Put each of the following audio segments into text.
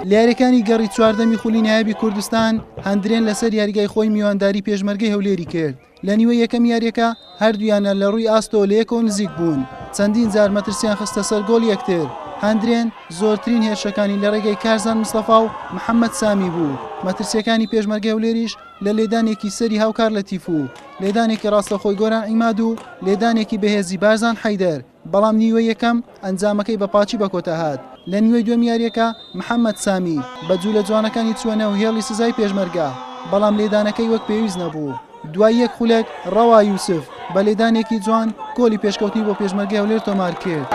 لە یارییەکانی گەڕی چواردەمی خولی نایابی کوردستان هەندرێن لەسەر یاریگای خۆی میوانداری پێشمەرگەی هەولێری کرد لە نیوە یەکەم یاریەکە هەردوویانە لە ڕووی ئاستەوە لە یەکەوە نزیک بوون چەندین جار مەترسیان خستە سەر گۆڵ یەکتر هەندرێن زۆرترین هێرشەکانی لە ڕێگەی کارزان مستەفا و محەممەد سامی بوو مەترسیەکانی پێشمەرگە هەولێریش لە لێدانێکی سەری هاوکار لە تیف و لێدانێکی ڕاستەخۆی گۆران ئیماد و لێدانێکی بەهێزی بارزان حیدەر بەڵام نیوەی یەکەم ئەنجامەکەی بە پاچی بەکۆتا هات، لە نیوەی دووەم یارییەکە محەمەد سامی بە جولە جوانەکانی چووە نێو هێڵی سزای پێشمەرگە، بەڵام لێدانەکەی وەک پێویست نەبوو، دوای یەک خولەک ڕەوا یوسف بە لێدانێکی جوان گۆڵی پێشکەوتنی بۆ پێشمەرگەی هەولێر تۆمارکرد.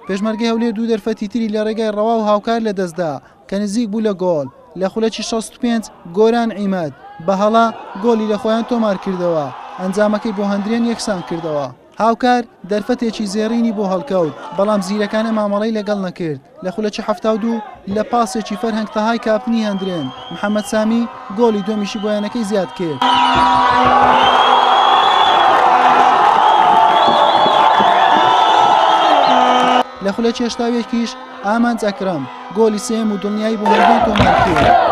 پێشمەرگەی هەولێر دوو دەرفەتی تری لە ڕێگای ڕەوا و هاوکار لەدەستدا، کە نزیک بوو لە گۆڵ، لە خولەکی شەست و پێنج گۆران عیماد بە هەڵە گۆڵی لە خۆیان تۆمارکردەوە، ئەنجامەکەی بۆ هەندرێن یەکسانکردەوە. هاوکار دەرفەتێکی زێڕینی بۆ هەڵکەوت، بەڵام زیرەکانە مامەڵەی لەگەڵ نەکرد، لە خولەکی حەفتا و دوو لە پاسێکی فەرهەنگ تەهای کاپتنی هەندرێن، محەمەد سامی گۆڵی دووەمیشی بۆ یانەکەی زیادکرد. لە خولەکی هەشتا و یەکیش ئامانج ئەکرەم گۆلی سێیەم و دڵنیایی بۆ مەریوان تۆمار کرد.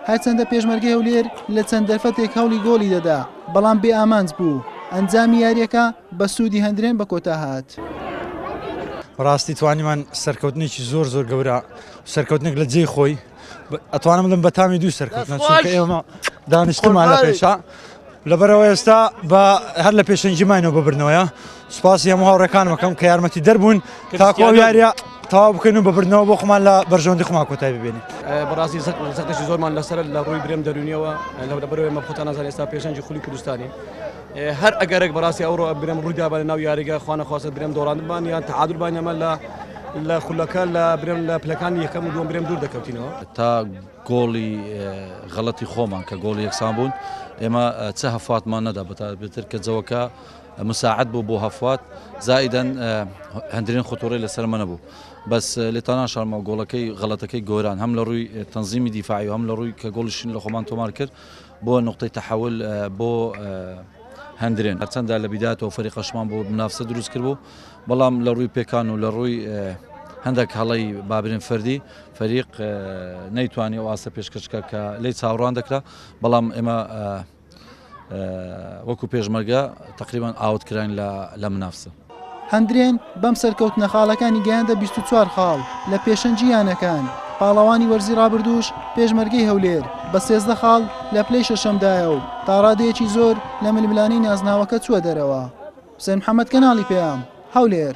هەرچەندە پێشمەرگەی هەولێر لە چەند دەرفەتێک هەوڵی گۆڵی دەدا، بەڵام بێ ئامانج بوو، ئەنجامی یارییەکە بە سوودی هەندرێن بە کۆتا هات. بەڕاستی توانیمان سەرکەوتنێکی زۆر زۆر گەورە و سەرکەوتنێک لە جێی خۆی. ئەتوانم بڵێم بە تامی دوو سەرکەوتنە چونکە ئێمە دانیشتمان لە پێشا لەبەرەوە ئێستا بە هەر لە پێشەنجی ماینەوە ببرنەوەە سوپاسی هەموو هاوڕەکان مەکەم کە یارمەتی دەربوون تاکۆ یاریە تاوا بکەین و ببرنەوە بۆ خۆمان لە بەرژەوەندی خۆمان کۆتای ببێنین بەڕاستی زەکتەشی زۆرمان لەسەر لە ڕووی برێم دەرونیەوە لەو لەبەرەوەی مەخۆتان نازان ئێستا پێشەنجی خولی کوردستانی هەر ئەگەرێک بەڕاستی ئەوڕۆ برێم ڕوویدا بە لەناو یاریگە خوانەخواستە برێم دۆڕاندبان یان تەعادل بان ئەمە لە لە خولەکە لە برێم لە پلەکانی یەکەم و دوم برێم دوور دەکەوتینەوە تا گۆڵی غەڵەتی خۆمان کە گۆڵی یەکسان بوون ئێمە چ هەفاتمان نەدا بەتابێتتر کە جەوەکە مساعد بوو بۆ هەفات زائیدەن هەندرین خۆتۆڕی لەسەر منە بوو بەس لێتانان شارمە گۆڵەکەی غەڵەتەکەی گۆران هەم لە ڕووی تەنزیمی دیفاعی و هەم لە ڕووی کە گۆڵشین لە خۆمان تۆمار کرد بۆ نوقتەی تەحول بۆ هەندرێن هەرچەندە لە بیداتەوە فەری قەشمان بۆ منافسە دروست کرد بوو بەڵام لە ڕووی پێکان و لە ڕووی هەندێک هەڵی بابرین فەردی فەریق نەیتوانی و ئاسە پێشکەشکە کە لی چاوڕان دەکرا بەڵام ئێمە وەکو پێشمەرگە تقریبان ئاوت کراین لە منافسە هەندرێن بەم سەرکەوتنە خاڵەکانی گەیاندە بیست و چوار خاڵ لە پێشەنگی یانەکان، پاڵەوانی وەرزی رابردووش پێشمەرگەی هەولێر بە سێزدە خاڵ لە پلەی شەشەمدایە و تا رادەیەکی زۆر لە ململانێی نازناوەکە چووە دەرەوە. حوسێن محەمەد، کەناڵی پەیام، هەولێر.